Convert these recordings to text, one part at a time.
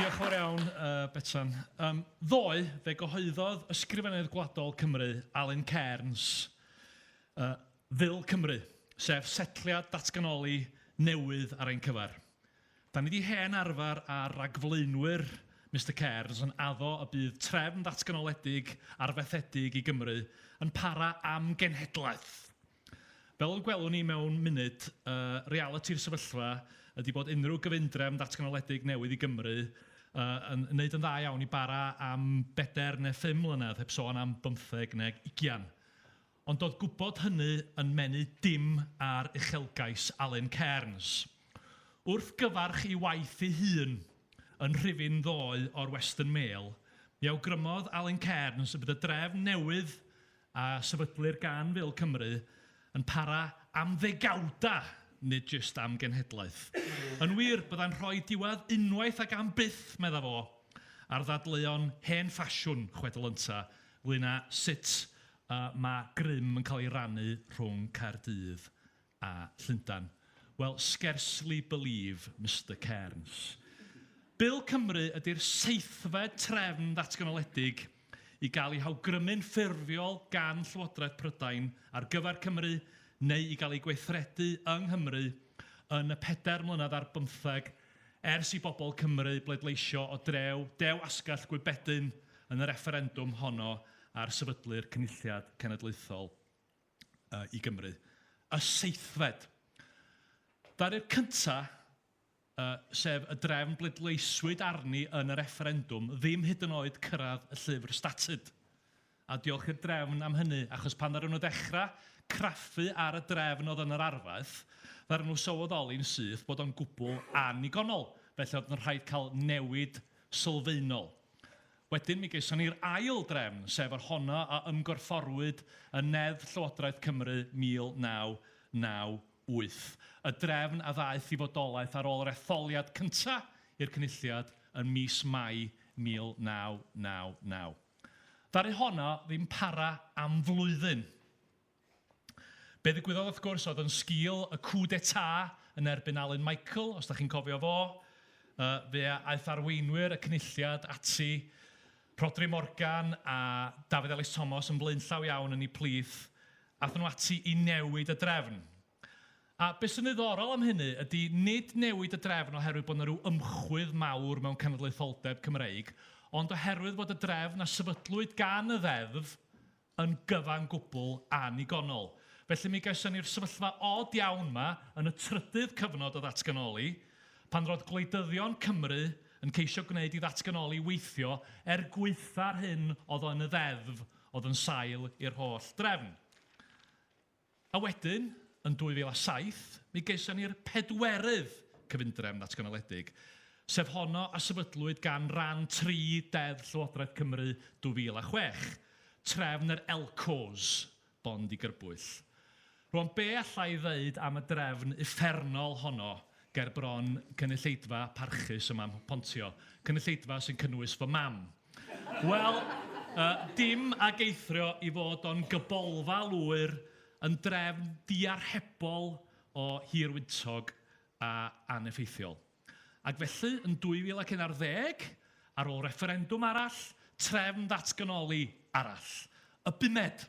Diolch yn fawr iawn, Betsan. Ddoe, fe gyhoeddodd Ysgrifennydd Gwladol Cymru, Alun Cairns, Ddul Cymru, sef setliad datganoli newydd ar ein cyfer. Da ni 'di hen arfer â'r ragflaenwyr Mister Cairns yn addo y bydd trefn ddatganoledig arfaethedig i Gymru yn para am genhedlaeth! Fel y gwelwn ni mewn munud, y realiti'r sefyllfa ydi bod unrhyw gyfundrefn ddatganoledig newydd i Gymru yn wneud yn dda iawn i bara am bedair neu phum mlynedd, heb sôn am bymtheg neu ugian. Ond doedd gwybod hynny yn menu dim ar uchelgais Alun Cairns. Wrth gyfarch ei waith ei hun yn rhifyn ddoe o'r Western Mail, mi awgrymodd Alun Cairns y bydd y drefn newydd a sefydlir gan Wil Cymru yn para am ddegawdau, nid jyst am genhedlaeth. Yn wir, byddai'n rhoi diwedd unwaith ac am byth, meddai fo, ar ddadleuon hen ffasiwn chwedl ynta ynglŷn â sut y mae grym yn cael ei rannu rhwng Caerdydd a Llundain. Wel, scarcely believe Mister Cairns. Bil Cymru ydy'r seithfed trefn ddatganoledig i gael ei hawgrymu'n ffurfiol gan Llywodraeth Prydain ar gyfer Cymru neu i gael ei gweithredu yng Nghymru yn y pedair mlynedd ar bymtheg Ers i bobl Cymru bleidleisio o drew Dew Asgell Gwybedyn yn y refferendwm honno ar sefydlu'r Cynulliad Cenedlaethol i Gymru, y seithfed ddaearyr cyntaf, sef y drefn bleidleiswyd arni yn y refferendwm, ddim hyd yn oed cyrraedd y llyfr statud. A diolch i'r drefn am hynny, achos pan ddaru nhw ddechrau craffu ar y drefn oedd yn yr arfaeth, ddaru nhw sylweddoli'n syth bod o'n gwbl annigonol, felly oedd yn rhaid cael newid sylfaenol. Wedyn mi geison ni'r ail drefn, sef yr honno a ymgorfforwyd yn Neddf Llywodraeth Cymru 1998, y drefn a ddaeth i fodolaeth ar ôl yr etholiad cyntaf i'r Cynulliad yn mis Mai 1999. Ddaru honna ddim para am flwyddyn. Be ddigwyddodd wrth gwrs oedd yn sgil y coup d'état yn erbyn Alun Michael, os da chi'n cofio fo, yy fe a aeth arweinwyr y Cynulliad ati, Rhodri Morgan a Dafydd Elis Thomas yn flaenllaw iawn yn eu plith, aethon nhw ati i newid y drefn. A be sy'n ddiddorol am hynny ydy nid newid y drefn oherwydd bod 'na ryw ymchwydd mawr mewn cenedlaetholdeb Cymreig, ond oherwydd bod y drefn a sefydlwyd gan y Ddeddf yn gyfan gwbl annigonol. Felly mi gawson ni'r sefyllfa od iawn 'ma yn y trydydd cyfnod o ddatganoli, pan roedd gwleidyddion Cymru yn ceisio gwneud i ddatganoli weithio er gwaetha'r hyn oedd o yn y Ddeddf oedd yn sail i'r holl drefn. A wedyn, yn 2007, mi geison ni'r pedwerydd cyfundrefn ddatganoledig, sef honno a sefydlwyd gan ran tri Deddf Llywodraeth Cymru 2006, trefn yr Elcos, Bond i Gyrbwyll. Rwan, be alla i ddeud am y drefn uffernol honno ger bron cynulleidfa parchus ym Mhamhupontio, cynulleidfa sy'n cynnwys fy mam? Wel, yy, dim ag eithrio i fod o'n gybolfa lwyr yn drefn diarhebol o hir wyntog a aneffeithiol. Ac felly, yn 2011, ar ôl refferendwm arall, trefn ddatganoli arall. Y bumed!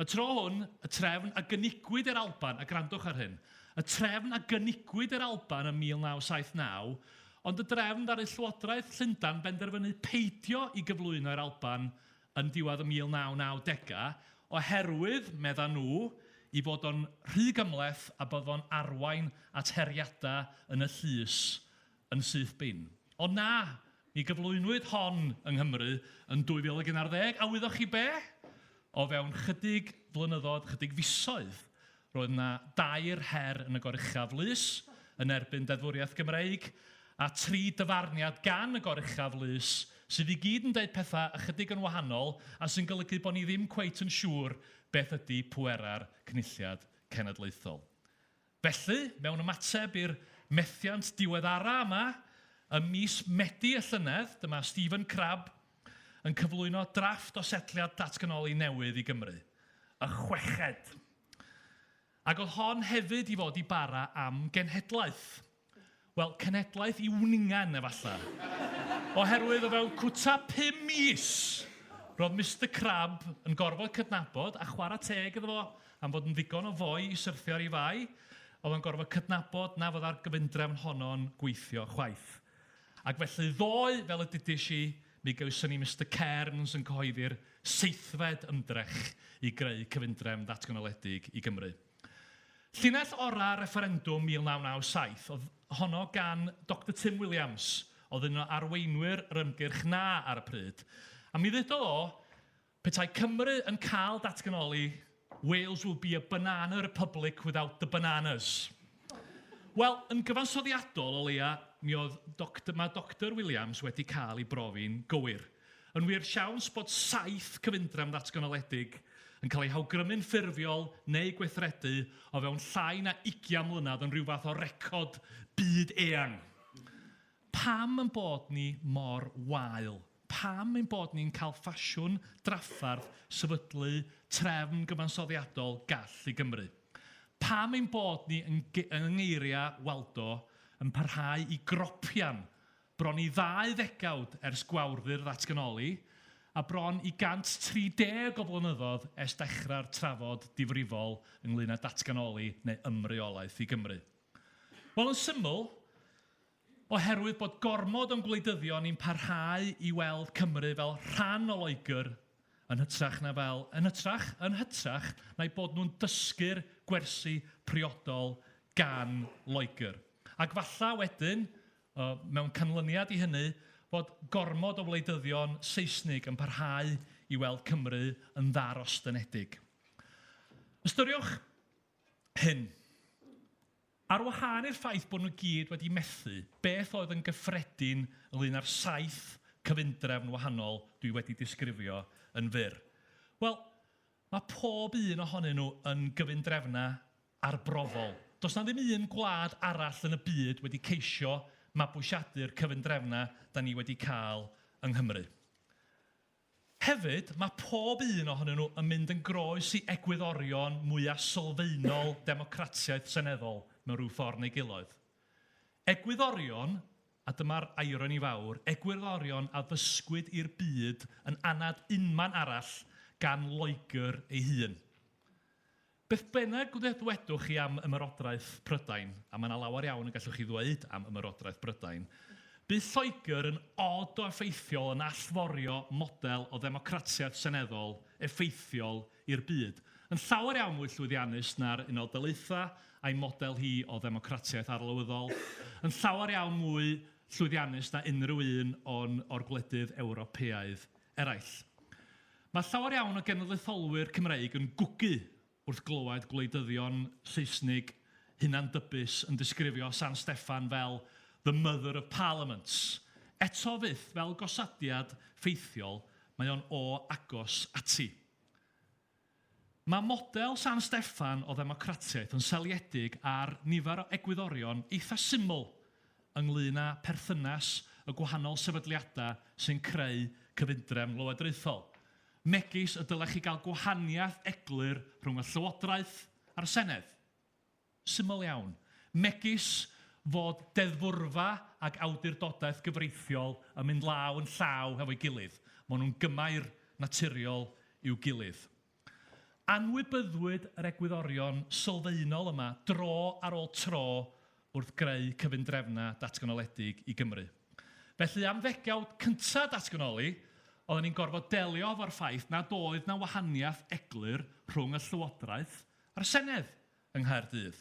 Y tro hwn, y trefn a gynigiwyd i'r Alban, a gwrandwch ar hyn, y trefn a gynigiwyd i'r Alban ym 1979, ond y drefn ddaru Llywodraeth Llundain benderfynu peidio i gyflwyno i'r Alban yn diwedd y 1990au oherwydd, meddan nhw, i fod o'n rhy gymhleth a bydd o'n arwain at heriadau yn y llys yn syth bin. Ond na! Mi gyflwynwyd hon yng Nghymru yn 2011, a wyddoch chi be? O fewn chydig flynyddoedd, chydig fisoedd, roedd yna dair her yn y Goruchaf Lys yn erbyn deddfwriaeth Gymreig, a tri dyfarniad gan y Goruchaf Lys, sydd i gyd yn deud pethau ychydig yn wahanol, a sy'n golygu bod ni ddim cweit yn siŵr beth ydy pwerau'r Cynulliad Cenedlaethol. Felly, mewn ymateb i'r methiant diweddara' yma, ym mis Medi y llynedd, dyma Stephen Crabb yn cyflwyno drafft o setliad datganoli newydd i Gymru, y chweched. Ac oedd hon hefyd i fod i bara am genhedlaeth. Wel, cenhedlaeth i wningen, efallai. Oherwydd o fewn cwta pum mis, roedd Mister Crab yn gorfod cydnabod, a chwarae teg iddo fo am fod yn ddigon o foi i syrthio ar ei fai, oedd o'n gorfod cydnabod na fyddai'r gyfundrefn honno'n gweithio chwaith. Ac felly ddoe, fel y dudais i, mi gawson ni Mister Cairns yn cyhoeddi'r seithfed ymdrech i greu cyfundrefn ddatganoledig i Gymru. Llinell orau refferendwm 1997 oedd honno gan Doctor Tim Williams, oedd yn un o arweinwyr yr ymgyrch 'na ar y pryd, a mi ddudodd o, 'Petai Cymru yn cael datganoli, Wales will be a banana republic without the bananas'. Wel, yn gyfansoddiadol, o leia', mi oedd Doctor... ma' Doctor Williams wedi cael ei brofi'n gywir. Yn wir, siawns bod saith cyfundrefn ddatganoledig yn cael eu hawgrymu'n ffurfiol neu gweithredu o fewn llai na ugian mlynedd yn rhyw fath o record byd eang. Pam ein bod ni mor wael? Pam ein bod ni'n cael ffasiwn drafferth sefydlu trefn gyfansoddiadol gall i Gymru? Pam ein bod ni, yn ngeiriau Waldo, yn parhau i gropian Bron i ddau ddegawd ers gwawrdy'r ddatganoli, a bron i 130 o flynyddoedd ers dechrau'r trafod difrifol ynglŷn â datganoli neu ymreolaeth i Gymru. Wel, yn syml, oherwydd bod gormod o'n gwleidyddion ni'n parhau i weld Cymru fel rhan o Loegr yn hytrach na fel, yn hytrach, yn hytrach na'u bod nhw'n dysgu'r gwersi priodol gan Loegr. Ac falle wedyn, o mewn canlyniad i hynny fod gormod o wleidyddion Seisnig yn parhau i weld Cymru yn ddarostyngedig. Ystyriwch hyn. Ar wahân i'r ffaith bod nhw gyd wedi methu, beth oedd yn gyffredin ynglŷn â'r saith cyfundrefn wahanol dwi wedi disgrifio yn fyr? Wel, mae pob un ohonyn nhw yn gyfundrefnau arbrofol. Does 'na ddim un gwlad arall yn y byd wedi ceisio mabwysiadu'r cyfundrefnau 'da ni wedi cael yng Nghymru. Hefyd, mae pob un ohonyn nhw yn mynd yn groes i egwyddorion mwya' sylfaenol democratiaeth seneddol mewn rhyw ffordd neu giloedd. Egwyddorion, a dyma'r ironi fawr, egwyddorion a ddysgwyd i'r byd yn anad unman arall gan Loegr ei hun. Beth bynnag wne ddwedwch chi am Ymerodraeth Prydain, a mae yna lawer iawn y gallwch chi ddweud am Ymerodraeth Brydain, bydd Lloegr yn od o effeithiol yn allforio model o ddemocratiaeth seneddol effeithiol i'r byd, yn llawer iawn mwy llwyddiannus na'r Unol Daleithiau a'i model hi o ddemocratiaeth arlywyddol, yn llawer iawn mwy llwyddiannus na unrhyw un o'n o'r gwledydd Ewropeaidd eraill. Mae llawer iawn o genedlaetholwyr Cymreig yn gwgu wrth glywed gwleidyddion Saesnig hunan-dybus yn disgrifio San Steffan fel 'the mother of parliaments'. Eto fyth fel gosodiad ffeithiol, mae o'n o agos ati. Mae model San Steffan o ddemocratiaeth yn seiliedig ar nifer o egwyddorion eitha' syml ynglŷn â pherthynas y gwahanol sefydliadau sy'n creu cyfundrefn lywodraethol, megis y dylech chi gael gwahaniaeth eglur rhwng y Llywodraeth a'r Senedd. syml iawn, megis fod deddfwrfa ac awdurdodaeth gyfreithiol yn mynd law yn llaw hefo'i gilydd, maen nhw'n gymair naturiol i'w gilydd. Anwybyddwyd yr egwyddorion sylfaenol yma dro ar ôl tro wrth greu cyfundrefnau datganoledig i Gymru. Felly, am ddegawd cyntaf datganoli, oedden ni'n gorfod delio hefo'r ffaith nad oedd 'na wahaniaeth eglur rhwng y Llywodraeth a'r Senedd. yng Nghaerdydd.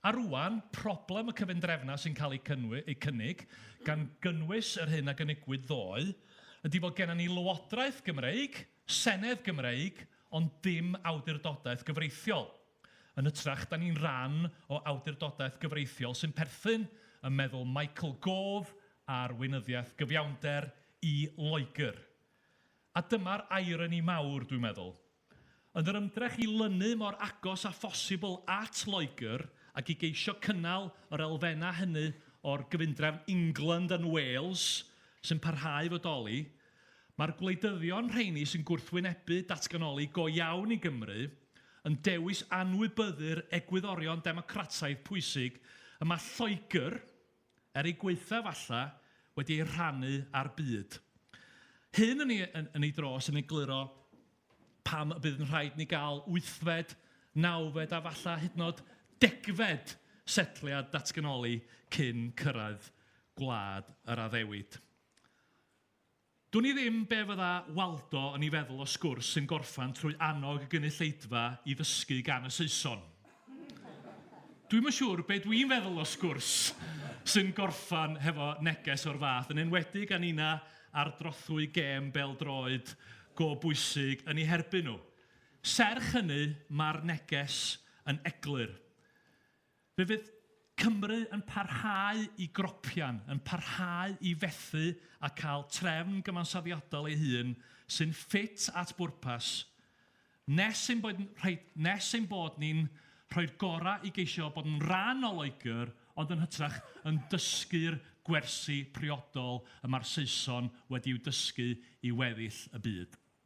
A rŵan, problem y cyfundrefnau sy'n cael eu cynnig, gan gynnwys yr hyn a gynigwyd ddoe, ydy fod gennym ni Lywodraeth Gymreig, Senedd Gymreig, ond dim awdurdodaeth gyfreithiol, yn hytrach 'da ni'n ran o awdurdodaeth gyfreithiol sy'n perthyn, yn meddwl Michael Gove ar weinyddiaeth gyfiawnder, i Loegr. A dyma'r irony mawr, dwi'n meddwl. Yn yr ymdrech i lynu mor agos â phosibl at Loegr ac i geisio cynnal yr elfennau hynny o'r gyfundrefn England and Wales sy'n parhau i fodoli, mae'r gwleidyddion rheini sy'n gwrthwynebu datganoli go iawn i Gymru yn dewis anwybyddu'r egwyddorion democrataidd pwysig y mae Lloegr, er ei gwaetha falla, wedi ei rhannu â'r byd. Hyn yn ei, yn, yn ei dros yn egluro pam y bydd yn rhaid ni gael wythfed, nawfed a falla hyd yn oed degfed setliad datganoli cyn cyrraedd gwlad yr addewid. Dwn i ddim be fydda Waldo yn ei feddwl o sgwrs sy'n gorffan trwy annog y gynulleidfa i ddysgu gan y Saeson. Dwi'm yn siŵr be dwi'n feddwl o sgwrs sy'n gorffan hefo neges o'r fath, yn enwedig a ninna ar drothwy gêm bêl-droed go bwysig yn eu herbyn nhw. Serch hynny, mae'r neges yn eglur. Fe fydd Cymru yn parhau i gropian, yn parhau i fethu a cael trefn gyfansoddiadol ei hun sy'n ffit at bwrpas, nes ein bod rhoi nes ein bod ni'n rhoi'r gorau i geisio bod yn rhan o Loegr ond yn hytrach yn dysgu'r gwersi priodol y mae'r Saeson wedi'u dysgu i weddill y byd.